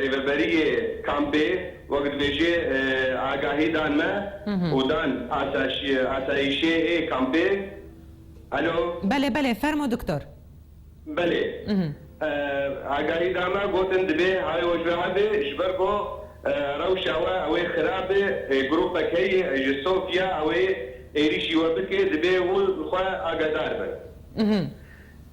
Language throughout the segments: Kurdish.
Rêveberiyê kampê wek dibêje agahî dan me û dan asayîşê ê kampê. Alo. Belê belê fermo diktor. Belê. Agahî da me gotin dibê hawê we ji we hebe ji ber ku rewşa we ew ê xirab e grûpek heye ji Sofya ew ê êrîşî we bike dibê hûn li xwe agadar bin.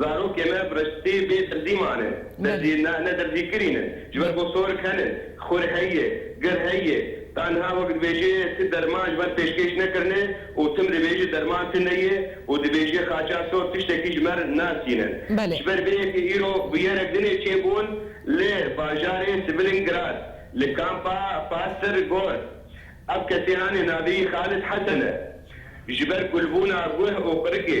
Zarokê me Riştî bê dirzî mane. Dirzî ne, ne dirzî kirîn e. Ji ber ku sor ken in, xur hey ye, gir hey ye. Tenha wek dibêje ti derman ji ber pêşkêş nekirine û tim dibêje derman ti ne ye û dibêje xaça sor tiştekî ji me nasîne. Ji ber vê yekê îro bûyerek din ê çêbûn li bajarê Svilingrad li kampa Pasir Gor. Ev kesê anê navê yî Xalid Hesen e. Ji ber kulbûna guh û qirikê.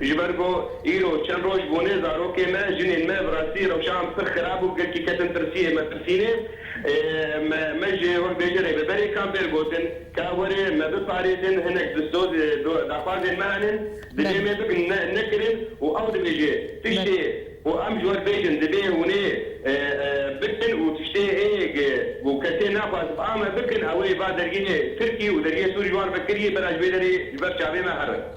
Ji ber ku îro çend roj bûne zarokê me, jinên me bi rastî rewşan pir xirab û gelkî ketin tirsiyê metirsînê. Me me ji wek bêjerê bi berê kampêr gotin ka were me biparêzin hinek distoz daxwazên me hene dibê me bikin nekirin û ew dibêje tiştê ku em ji we bêjin dibê hûnê bikin û tiştê ê ku kesê naxwaz ame bikin ewê ba dergê tirkî û dergê sûrî ji wan ve kirî bera ji vê derê ji ber çavê me herin.